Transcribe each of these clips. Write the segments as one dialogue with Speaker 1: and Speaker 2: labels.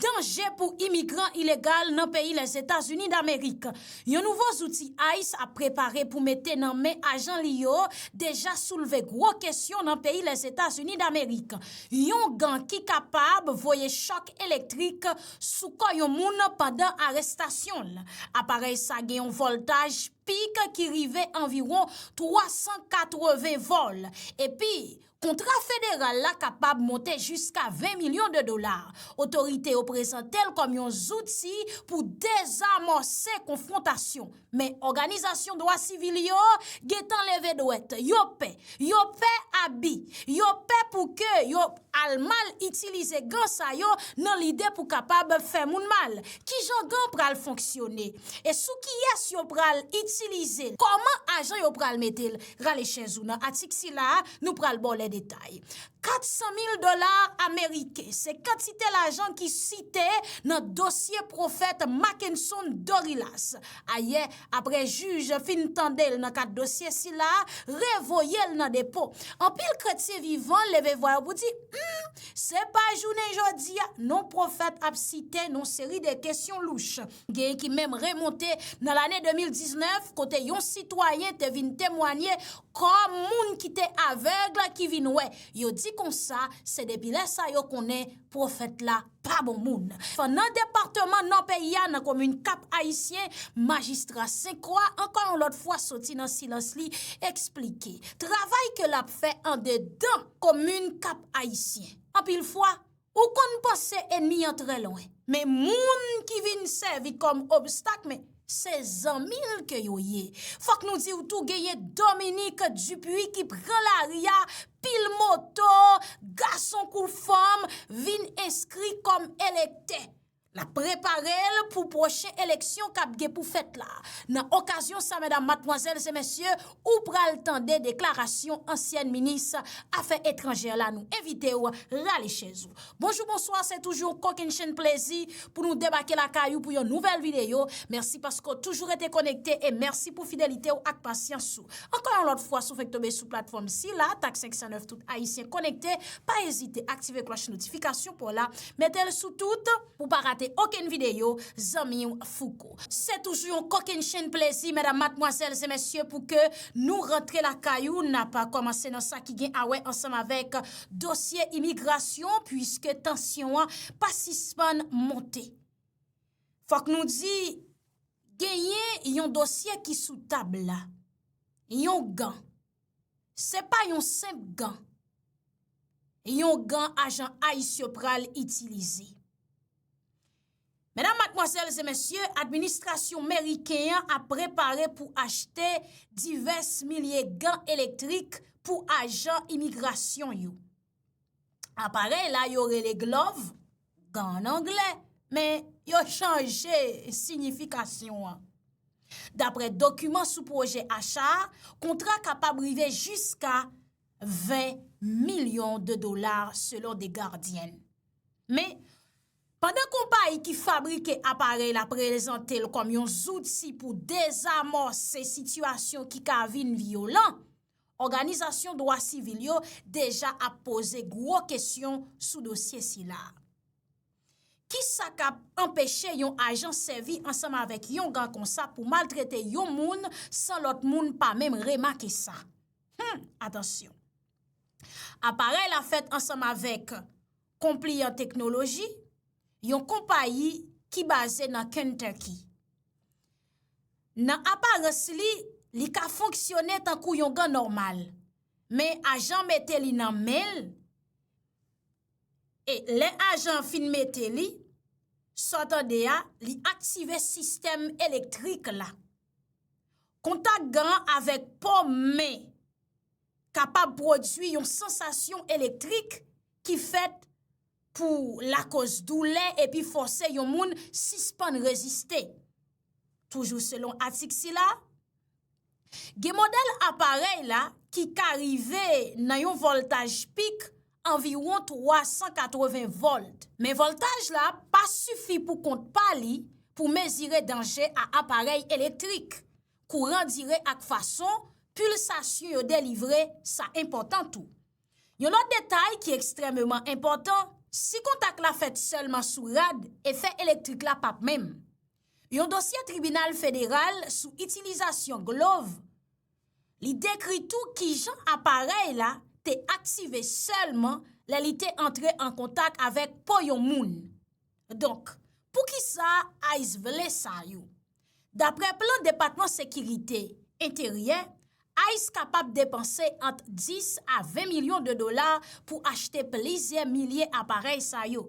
Speaker 1: Danje pou imigran ilegal nan peyi Lèzetazini Damerik. Yon nouvo zouti ice ap prepare pou mete nan men ajan li yo deja soulve gwo kesyon nan peyi Lèzetazini Damerik. Yon gan ki kapab voye chòk elektrik sou kò yon moun pandan arestasyon l. Aparèy sa gen yon vòltaj pik ki rive anviwon 380 vòl. Epi, Kontra federal la kapab monte jiska 20 milyon de dola. Otorite yo prezante l kòm yon zouti pou dezamòse konfwontasyon. Men òganizasyon dwa sivil yo gen tan leve dwèt. Yo pè. Yo pè abi. Yo pè pou ke yo al mal itilize gan sa yo nan lide pou kapab fè moun mal. Ki jan gan pral fonksyone? E sou kiyès yo pral itilize l? Kòman ajan yo pral mete l? Rale chèz ou nan atik sila a, nou pral ba w lè detay. 400 mil dola ameriken, se kantite lajan ki site nan dosye pwofèt Mackenson Dorilas. Ayè, apre jij fin tande l nan kad dosye sila a, revoye l nan depo. Anpil kretyen vivan leve vwa yo pou di, Humm! Se pa jounen jodi a, non pwofèt ap site nan seri de kesyon louch. Genyen ki menm remonte nan lane 2019 kote yon sitwayen te vin temwanye kòm moun ki te avèg ki vin wè. Yo di konsa, se depi lè sa yo konnen pwofèt la pa bon moun. Fan nan departeman nò peyi a nan komin Kap Ayisyen, majistra Senkwa ankò yon lòt fwa soti nan silans li eksplike travay ke l ap fè andedan komin Kap Ayisyen. Anpil fwa. Ou konn panse enmi an trè lwen, men moun ki vin sèvi kòm obstak men se zanmi l ke yo ye. Fòk nou di w tou genyen Dominique Dupuy ki pran lari a, pil moto, gason kou fanm, vin enskri kòm elektè. L ap prepare l pou pwochen eleksyon k ap gen pou fèt la. Nan okazyon sa medam, matmwazèl se mesye, ou pral tande deklarasyon ansyèn minis afè etranjè la nou envite w rale chèz ou. Bonjou bonswa se toujou yon kokennchenn plezi pou nou debake lakay ou pou yon nouvèl videyo. Mèsi paske w toujou rete konekte e mèsi pou fidelite w ak pasyans ou. Ankò yon lòt fwa si w fenk tonbe sou platfòm sila, tak 509 tout ayisyen konekte, pa ezite aktive klòch notifikasyon pa w la. Metel sou tout pou pa rate okenn video zanmiw fouco. Se toujou yon kokenn chenn plezi medam matmwazèl e mesye pou ke nou rantre lakay ou nap komanse nan sa ki gen awè ansanm avèk dosye imigrasyon pwiske tansyon an pa sispann monte fòk nou di genyen yon dosye ki sou tab la yon gan Se pa yon senp gan. Yon gan ajan ice yo pral itilize. Medam, matmwazèl, zè mèsyè, administrasyon meriken an ap prepare pou achte divès milye gan elektrik pou ajan imigrasyon yo. Aparèy la yo rele glòv, gan an anglè, men yo chanje siyifikasyon an. Daprè dokiman sou pwojè acha a, kontra kapab rive jiska 20 milyon de dola selon The Guardian. Men, pandan konpayi ki fabrike aparèy la prezante l kòm yon zouti pou dezamòse sitiyasyon ki ka vin vyolan, Òganizasyon dwa sivil yo deja ap poze gwo kesyon sou dosye sila. Ki sa k ap anpeche yon ajan sèvi ansanm avèk yon gan konsa pou maltrete yon moun san lòt moun pa menm remake sa? Hum! Atansyon! Aparèy la fèt ansanm avèk Compliant Technology, yon konpayi ki baze nan Kentucky. Nan aparans li, li ka fonksyone tankou yon gan nòmal. Men ajan mete li nan men l, e lè ajan an fin mete li, sa w tande a, li aktive sistèm elektrik la. Kontak gan an avèk po men kapab pwodui yon sansasyon elektrik ki fèt. pou lakoz doulè epi fòse yon moun sispann reziste. Toujou selon atik sila, gen modèl aparèy la ki ka rive nan yon vòltaj pik anviwon 380 vòlt. Men vòltaj la pa sifi pou kont pa li pou mezire danje a aparèy elektrik. Kouran dire ak fason pilsasyon yo delivre sa enpòtan tou. Yon lòt detay ki ekstrèmeman enpòtan, si kontak la fèt sèlman sou rad, efè elektrik la pap menm. Yon dosye tribinal federal sou itilizasyon glov li dekri tou kijan aparèy la te aktive sèlman lè li te antre an kontak avèk po yon moun. Donk, poukisa ice vle sa yo? Daprè plan Depatman Sekirite Enteryè, ice kapab depanse ant 10 a 20 milyon de dola pou achte plizyè milye aparèy sa yo,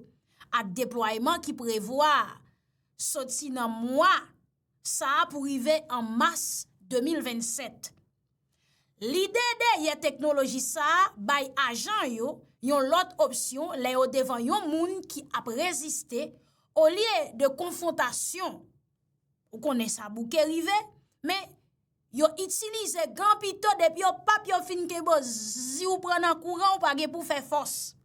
Speaker 1: ak deplwayeman ki prevwa a soti nan mwa sa a pou rive an mas 2027. Lide dèyè teknoloji sa a bay ajan yo yon lòt opsyon lè yo devan yon moun ki ap reziste, olye de konfwontasyon, ou konnen sa bouke rive, men, yo itilize gan pito depi yo pap yo fin kebòz, si w pran nan kouran w pa gen pou w fè fòs.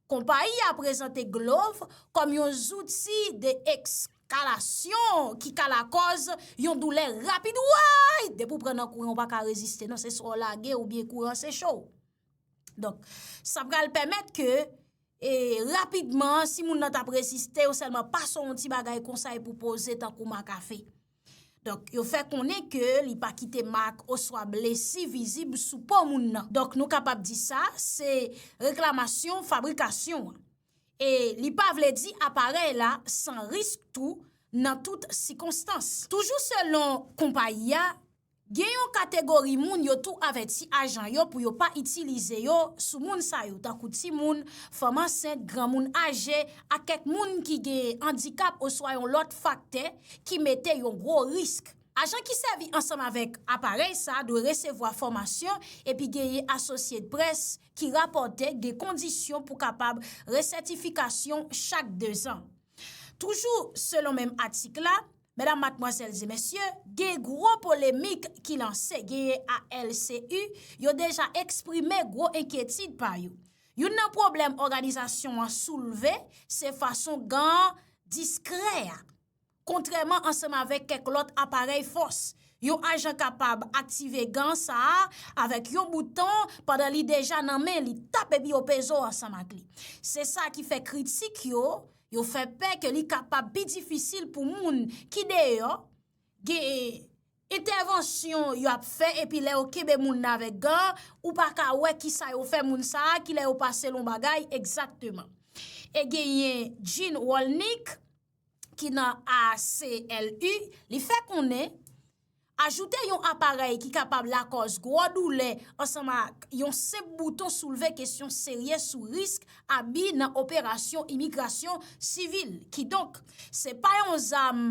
Speaker 1: Konpayi a prezante glov kòm yon zouti de ekskalasyon ki ka lakòz yon doulè rapid woy! Depi w pran nan kouran w pa ka reziste non se swa w lage oubyen kouran seche w. Donk sa pral pèmèt ke e rapidman si moun nan t ap reziste yo sèlman pase w yon ti bagay konsa epi w poze tankou ma kafe. Donk, yo fè konnen ke li pa kite mak oswa blesi vizib sou po moun nan. Donk, nou kapab di sa, se reklamasyon fabrikasyon an. E li pa vle di aparèy la san risk tou nan tout sikonstans. Toujou selon konpayi a, Gen yon kategori moun yo tou avèti ajan yo pou yo pa itilize yo sou moun sa yo tankou timoun, fanm ansent, granmoun aje ak kèk moun ki gen andikap oswa yon lòt faktè ki mete yon gwo risk. Ajan ki sèvi ansanm avèk aparèy sa dwe resevwa fòmasyon epi genyen Associate Press ki rapòte gen kondisyon pou kapab resètifikasyon chak dezan. Toujou selon menm atik la, Medam, matmwazèl e mesye, gen gwo polemik ki lanse, genyen ALCU, yo deja eksprime gwo enkyetid pa yo. Youn nan pwoblèm òganizasyon an soulve, se fason gan an diskrè a. Kontrèman ansanm avèk kèk lòt aparèy fòs, yon ajan kapab aktive gan sa a avèk yon bouton pandan li deja nan men li, tap epi yo peze w ansanm ak li. Se sa ki fè kritik yo. Yo fè pè ke li kapab pi difisil pou moun ki deyò gen entèvansyon yo ap fè epi lè yo kenbe moun nan avèk gan, ou pa ka wè ki sa yo fè moun sa a, ki lè yo pase l on bagay egzakteman. E genyen Gene Rolnick ki nan ACLU, li fè konnen, Ajoute yon aparèy ki kapab lakòz gwo doulè ansanman ak yon senp bouton soulve kesyon serye sou risk abi nan operasyon imigrasyon sivil. Kidonk, se pa yon zam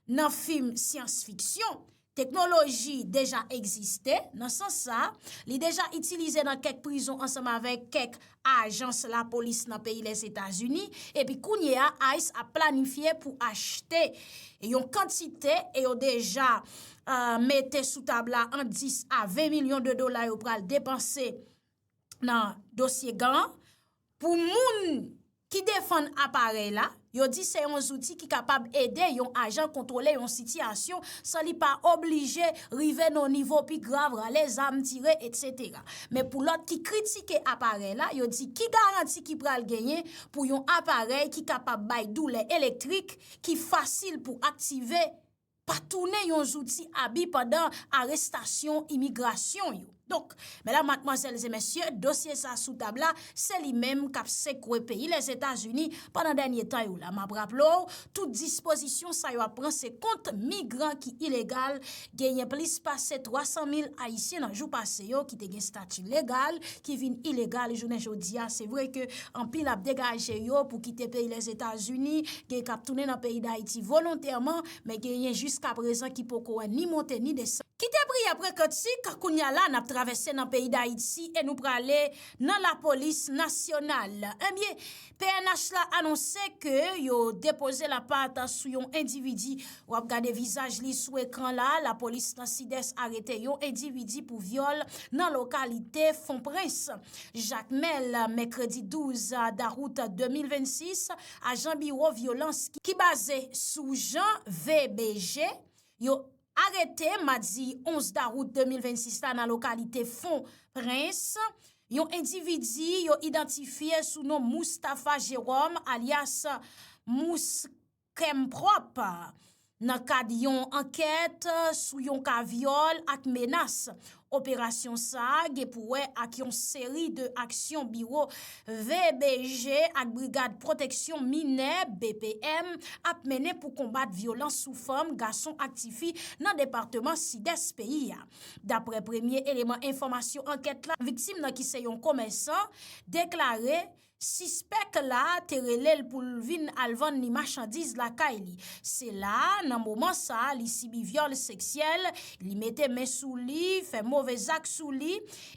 Speaker 1: nan fim syans fiksyon. Teknoloji deja egziste, nan sans sa, li deja itilize nan kèk prizon ansanm avèk kèk ajans lapolis nan peyi Lèzetazini, epi kounye a ice ap planifye pou achte yon kantite e yo deja mete sou tab la ant 10 a 20 milyon de dola yo pral depanse nan dosye gan pou moun ki defann aparèy la. Yo di se yon zouti ki kapab ede yon ajan kontwole yon sitiyasyon san li pa oblije rive nan yon nivo pi grav, rale zam, tire, etc. Men pou lòt ki kritike aparèy la, yo di ki garanti ki pral genyen pou yon aparèy ki kapab bay doulè elektrik ki fasil pou aktive, pa tounen yon zouti abi pandan arestasyon imigrasyon yo. Donk, medam, matmwazèl e mesye, dosye sa sou tab la, se li menm k ap sekwe peyi Lèzetazini pandan dènye tan yo la. M ap raple w, tout dispozisyon sa yo ap pran se kont migran ki ilegal, genyen plis pase 300 mil Ayisyen nan jou pase yo ki te gen stati legal ki vin ilegal jounen jodi a. Se vre ke Anpil ap degaje yo pou kite peyi Lèzetazini, gen k ap tounen nan peyi Dayiti volontèman, men genyen jiskaprezan ki poko wè ni monte ni desann. Kite priyè pre kantik, kounye a la n ap travèse nan peyi Dayiti e nou prale nan lapolis nasyonal. Ebyen, pnh la anonse ke yo depoze lapat sou yon endividi. W ap gade vizaj li sou ekran la, lapolis nan Sidès arete yon endividi pou vyòl nan lokalite Fonprens. Jakmèl, mèkredi 12 dawout 2026, ajan biwo vyolans ki baze sou Jan VBJ yo arete madi 11 dawout 2026 la nan lokalite Fon Prens, yon endividi yo idantifye sou non Moustapha Jérôme alyas Mous. Kèm pwòp! Nan kad yon ankèt sou yon ka vyòl ak menas, operasyon sa a gen pou wè ak yon seri de aksyon biwo VBJ ak Brigad Pwoteksyon Minè, BPM, ap mennen pou konbat vyolans sou fanm, gason ak tifi nan departeman Sidès peyi a. Daprè premye eleman enfòmasyon ankèt la, viktim nan ki se yon komèsan, deklare, Sispèk la te rele l pou l vin al vann li machandiz lakay li. Se la, nan moman sa, li sibi vyòl seksyèl, li mete men sou li, fè move zak sou li,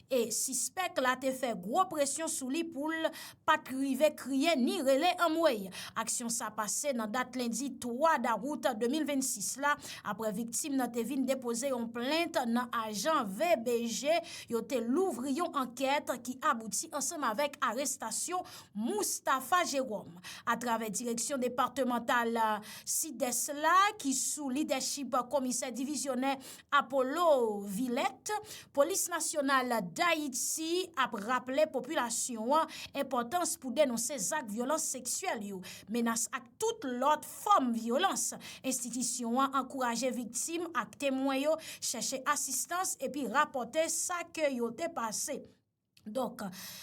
Speaker 1: e sispèk la te fè gwo presyon sou li pou l pa t rive kriye ni rele anmwey. Aksyon sa pase nan dat lendi 3 dawout 2026 la, aprè viktim nan te vin depoze yon plent nan ajan VBG Yo te louvri yon ankèt ki abouti ansanm avèk arestasyon Moustapha Jérôme. Atravè direksyon departemantal Sidès la ki sou lidèchip komisè divizyonè Apollo Villet, Polis Nasyonal Dayiti ap raple popilasyon an enpòtans pou denonse zak vyolans seksyèl yo, menas ak. tout lòt fòm vyolans. Enstitisyon an ankouraje viktim ak temwen yo chèche asistans epi rapòte sa ke yo te pase. Donk,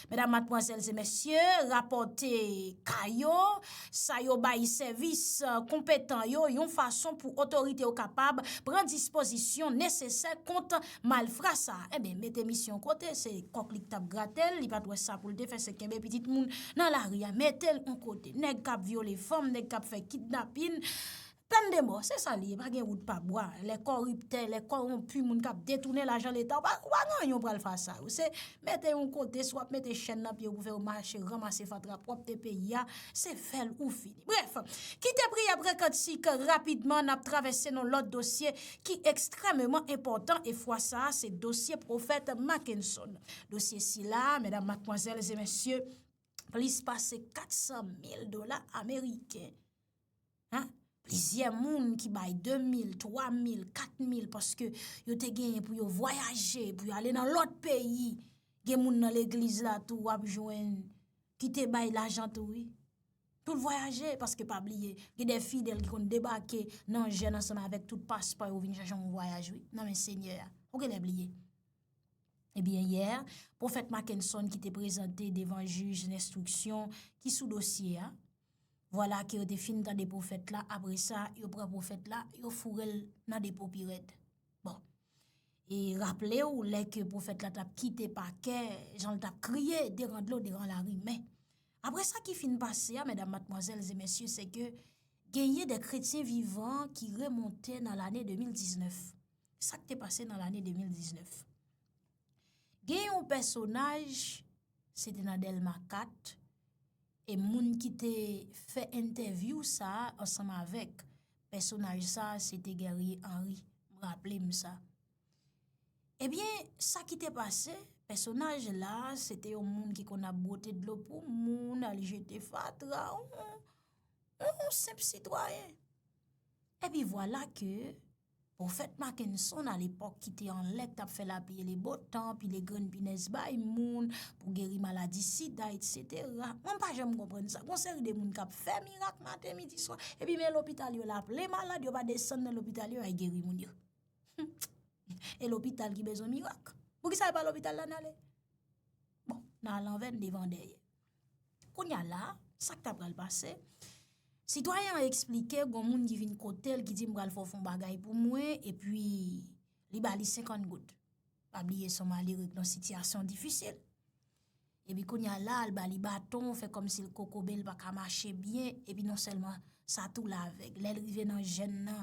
Speaker 1: medam, matmwazèl e mesye, rapòte ka yo, sa yo bay sèvis konpetan yo yon fason pou otorite yo kapab pran dispozisyon nesesè kont. Malfra sa, enben mete misyon kote, se kòk li k tap grate l, li pat wè sa pou l te fè se kenbe pitit moun nan lari a mete l on kote. Nèg kap vyole fanm, nèg kap fè kidnapin, pèn de mò, se sa li ye, pa gen wout pa bwa. Lè kòriptè, lè kòwonpi, moun kap detounen lajan leta, ou pa gen anyen ou pral fas a yo. Se mete yon kote, swa ap mete chèn nan pye ou pou fè yo mache, ranmase fatra pwòpte peyi a, se fè l ou fini. Brèf, kite priyè pre kantik rapidman n ap travèse nan lòt dosye ki ekstrèmeman enpòtan e fwa sa a se dosye pwofèt Makenson. Dosye sila a, medam, matmwazèl e mesye, plis pase 400 mil dola ameriken. An, plizyè moun ki bay 2 mil, 3 mil, 4 mil paske yo te genyen pou yo vwayaje, pou yo ale nan lòt peyi. Gen moun nan legliz la tou w ap jwenn ki te bay lajan tou wi. Pou l vwayaje, paske pa bliye, gen de fidèl ki konn debake nan jèn ansanm avèk tout paspò yo vin chache yon vwayaj wi, nan men Senyè a. Ou genlè bliye. Ebyen yè, Pwofèt Makenson ki te prezante devan jij lenstriksyon ki sou dosye a, vwala ke yo te fin tande pwofèt la, apre sa, yo pran pwofèt la, yo foure l nan depo pi rèd. Bon. E raple ou, lè ke pwofèt la t ap kite pakè, jan l t ap kriye, deran dlo, deran lari, men, Apre sa ki fin pase a, medam, matmwazèl e mesye, se ke genyen de kretyen vivan ki remonte nan lane 2019. Sa k te pase nan lane 2019? Gen yon pèsonaj, se te nan Delma 4, e moun ki te fè entèvyou sa a ansanm avèk pèsonaj sa a, se te Guerrier Henri, m raple m sa. Ebyen, sa ki te pase, pèsonaj la, se te yon moun ki konn ap bwote dlo pou moun, al jete fatra, yon senp sitwayen. Epi vwala ke, pwofèt Makenson a lepòk ki te an lèk t ap fè lapli e le botan, pile grenn pinèz bay moun, pou geri maladi sida, et setera. Mwen pa janm konprann sa. Gon seri de moun k ap fè mirak maten, midi, swa. Epi men lopital yo la plen malad, yo pa desann nan lopital yo, yo al geri moun yo. Humm e lopital ki bezwen mirak Pou ki sa e pa lopital la nale Bon nan alanve n devan dèyè Kounya la sak ta pral pase Sitwayen an eksplike gon moun ki vin kote l ki di m pral fè w fon bagay pou mwen e pi li ba li 50 goud Pa bliye son mali ret nan sitiyasyon difisil Epi kounya la al bali baton fè kòmsi l kokobe l pa ka mache byen epi non sèlman sa tou l avèg lè l rive nan jèn nan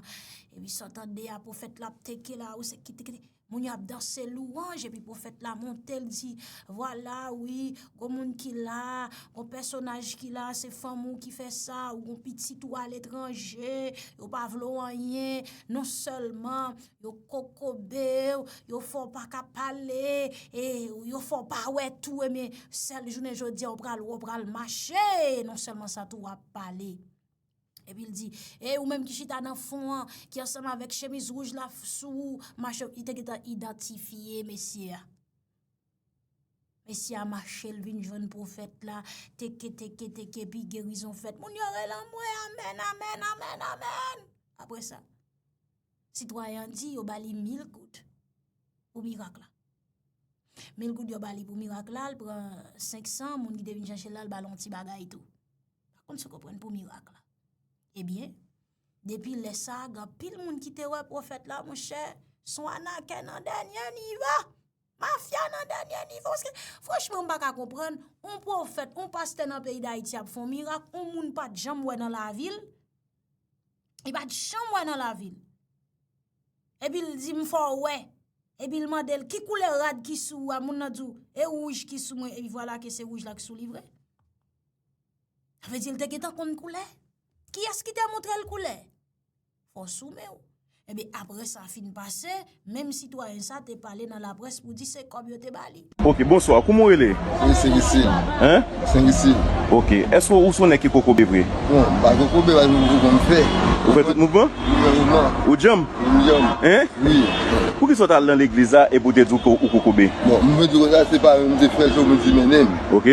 Speaker 1: epi sa w tande a pwofèt la ap teke la ou se kite kite moun yo ap danse lwanj epi pwofèt la monte l di vwala wi gon moun ki la gon pèsonaj ki la se fanm ou ki fè sa ou gon pitit ou aletranje ou pa vle w anyen non sèlman. Yo kokobe w, yo fè w pa ka pale, e yo fè w pa wè tou e men sèl jounen jodi a w pral wè w pral mache, non sèlman sa tou w ap pale. Epi l di, ey ou menm ki chita nan fon an, ki ansanm avèk chemiz wouj la sou ou, mache, li te gentan idantifye mesye a. Mesye a mache l vin jwenn pwofèt la, teke teke teke epi gerizon fèt. Moun yo rele anmwe amèn, amèn, amèn, amèn! Apre sa, Sitwayen an di yo ba li mil goud pou mirak la. Mil goud yo ba li pou mirak la, l pran 500, moun ki te vin chache l la, l ba l yon ti bagay tou. Pa konn si w konprann pou mirak la. Ebyen, depi lè sa, gen pil moun ki te wè pwofèt la, mwen chè, son anakè nan dènyè nivo, mafya nan dènyè nivo. Paske, franchman, m pa ka konprann, yon pwofèt, yon pastè nan peyi Dayiti ap fon mirak, yon moun pat janm wè nan lavi l. Li pat janm wè nan lavi l. Epi l di m fò w wè. Epi l mande l ki koulè rad ki sou ou a, moun nan di w e wouj ki sou mwen epi vwala ke se wouj la ki sou li vre. Sa vle di l te gentan konn koulè. Kiyès ki te montre l koulè? Fò w sou men w. Epi apre sa fin pase. Menm sitwayen sa te pale nan laprès pou di se kòb yo te ba li. Ok bonsoir kouman ou
Speaker 2: rele? Mwen se Risil.
Speaker 3: Hein? Mwen se
Speaker 2: Risil.
Speaker 3: Ok eske
Speaker 2: ou sou nèg ki kokobe vre? Bon m pa kokobe
Speaker 3: bay m kokobe m fè. Ou fè tout mouvman?
Speaker 2: M fè mouvman. Ou djanm?
Speaker 3: Wi m
Speaker 2: djanm. Hein? Wi.
Speaker 3: Pou kisa ou ta al
Speaker 2: nan legliz la epi ou te di ou kokobe? Bon m vle di ou sa
Speaker 3: se pa mwen m te fè l se ou m di mennen m. Ok.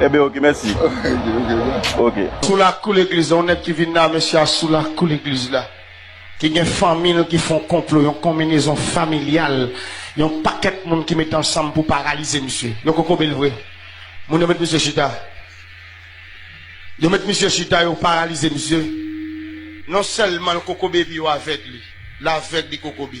Speaker 2: Ebyen ok mèsi. Ok. Sou lakou
Speaker 4: legliz la, yon nèg ki vin la a, mesye a sou lakou legliz la, ki gen fanmi l ki fè yon konplo, yon konminezon familyal, yon pakèt moun ki mete ansanm pou paralize misye. Yo kokobe l vre. Moun yo met misye chita. Yo met misye chita, yo paralize misye. Non sèlman l kokobe epi yo avèg li. L avèg, li kokobe.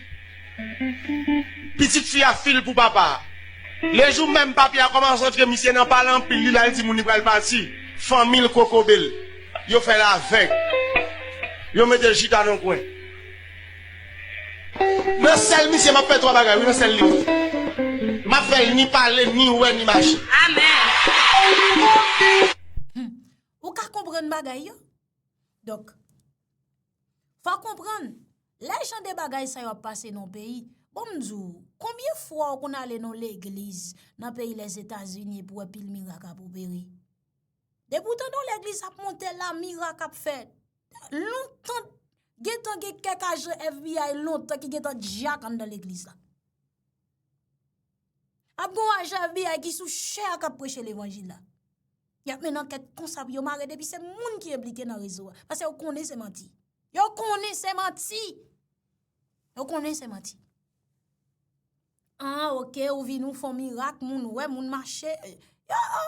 Speaker 4: Pitit fi a fil pou papa. Le jou menm papi a komanc antre misye nan pale anpil li lal di moun li pral pati fanmil kokobel yo fel aveg yo metel chita nan kwen nan sel misye map fe 3 bagay wi nan sel li map fel ni pale ni we ni mache. Humm
Speaker 1: ou ka konprann bagay yo? Donk Fò w konprann, lè jan de bagay sa yo ap pase nan w peyi, bon m di w, konbyen fwa w konn ale nan yon legliz nan peyi Lèzetazini epi w wè pil mirak ap opere? Depi w tande yon legliz ap monte la, mirak ap fèt. Lontan, gen tan gen kèk ajan FBI lontan ki gen tan djak anndan legliz la. Ap gon ajan FBI ki sou chè a kap preche levanjil la. Yap mennen ankèt konsa pou yo mare depi se moun ki enblike nan rezo a. Pase yo konnen se manti. Yo konnen se manti. Yo konnen se manti. An ok ou vin ou fon mirak moun wè moun mache. Yo yo.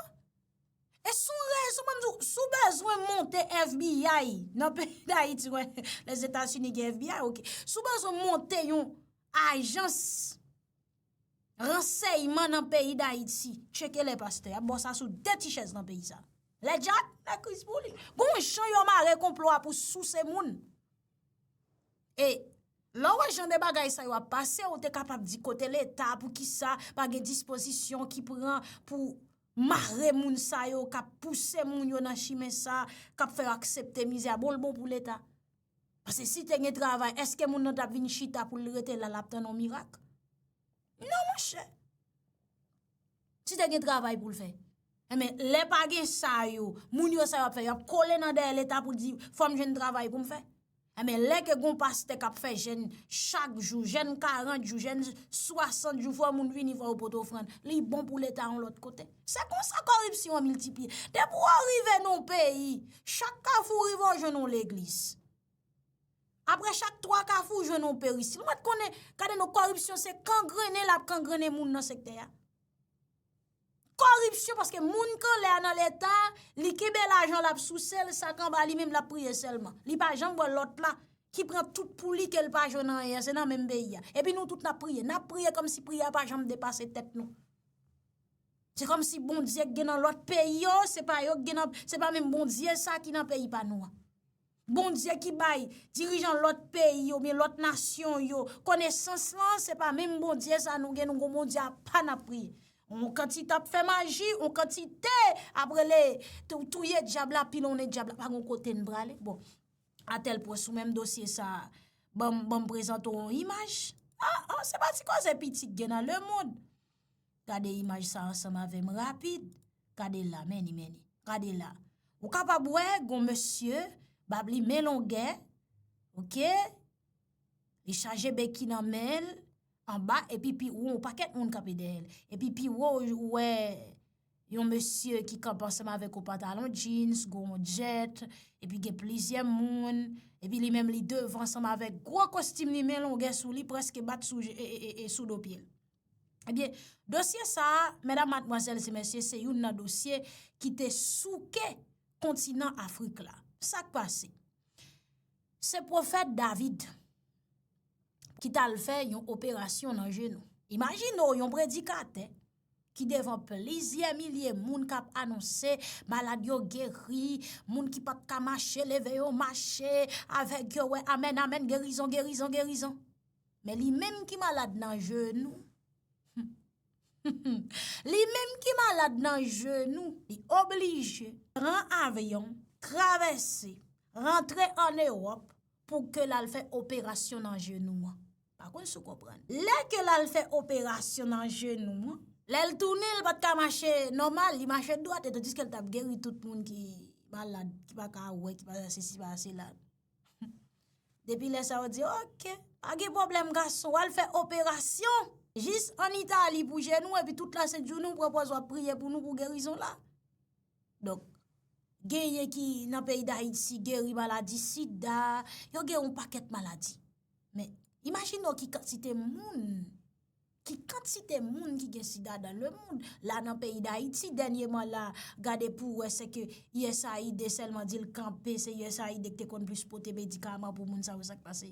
Speaker 1: E sou rezo moun di sou bezwen monte FBI. Nan pe da iti wè. Le zeta suni gen FBI ok. Sou bezwen monte yon ajans. Ransèyman nan peyi dayiti. Tcheke lè pastè a bo sa sou 2 ti chèz nan peyi sa. Lè djak nan kriz pou li. Gon yon jan yon mare konplo a pou sou se moun. E lè w wè jan de bagay sa yo ap pase ou te kapab di kote leta pou ki sa pa gen dispozisyon ki pran pou mare moun sa yo kap pouse moun yo nan chimen sa kap fè yo aksepte mizè a bon l bon pou leta. Pase si te gen travay, eske moun nan tap vin chita pou l rete la lap tann on mirak? Non monchè. Si te gen travay pou l fè. E men, lè pa gen sa yo, moun yo sa yo ap fè, yo ap kole nan dèyè leta pou di, fòm jwenn travay pou m fè. E men, lè ke gon pastè kap fè jèn chak jou, jèn 40 jou, jèn 60 jou, fò moun vini fò yo pot ofrann, li bon pou leta on lòt kote. Se konsa koripsyon an miltipliye. Depi w rive nan yon peyi, chak kafou w rive w jwenn yon legliz. Apre chak 3 kafou w jwenn yon peristil. Mwen konnen, gade non, koripsyon se kangrennen l ap kangrennen moun nan sektè a. Koripsyon paske moun k anlè a nan leta, li kenbe lajan l ap souse l, sa k anba li menm l ap priye sèlman. Li pa janm wè lòt la ki pran tout pou li ke l pa jwenn anyen, se nan menm peyi a. Epi nou tout n ap priye, n ap priye kòmsi priye a pa janm depase tèt nou. Se kòm si Bondye gen nan lòt peyi yo, se pa yo gen nan, se pa menm Bondye sa ki nan peyi pa nou an. Bondye ki bay dirijan lòt peyi yo, men lòt nasyon yo, konesans lan, se pa menm Bondye sa nou gen, nou kon Bondye a pa nan pri. On kantite ap fè maji, on kantite ap rele touye djab la, pilonnen djab la, pa kon kote n prale. Bon, atèl pwen sou menm dosye sa, banm prezanto on imaj. A, a, se pa ti kòze pitit gen nan le moun. Gade imaj sa ansanm avèm rapid, gade la meni meni, gade la. Ou kapab wè gon mesye, bab li men longè, ok, li chaje beki nan menl, anba epi pi won ou pakèt moun kape dèyèl. Epi pi won ou wè yon mesye ki kap ansanm avèk ou patalon jeans, gon djèt, epi gen plizyè moun, epi li menm li devan ansanm avèk gwo kostim li men longè sou li preske bat sou do pyel. Ebyen, dosye sa a, mèdam matmwazèl se mèsye, se youn nan dosye ki te souke kontinan Afrik la. Sa k pase? Se pwofèt David ki t al fè yon operasyon nan jenou. Imajine ou yon predikatè ki devan plizyè milye moun k ap anonse malad yo geri, moun ki pa t ka mache leve yo mache, avèk yo wè amèn amèn gerizon gerizon gerizon. Men li menm ki malad nan jenou humm li menm ki malad nan jenou li oblije pran avyon travèse rantre an ewòp pou ke lal fè operasyon nan jenou an pa konn sou konprann lè ke lal fè operasyon nan jenou an lèl tounen li pat ka mache nòmal li mache dwat etan diske li tap geri tout moun ki malad ki pa ka wè ki pa ka sesi pa ka sela humm. Depi lè sa yo di ok, pa gen pwoblèm gason, al fè operasyon, jis an Itali pou jenou, epi tout la sent jounou, pran pòz wap priye pou nou pou gerizon la. Donk, gen yen ki nan peyi da iti, geri maladi sida, yo gen yon pakèt maladi. Men, imajino ki kantite moun. Ki kantite moun ki gen sida dan le moun, la nan peyi dayiti, dènye man la, gade pou wè se ke usaid sèlman di l kanpe, se usaid ki te konn plis pote medikaman pou moun sa yo sak pase.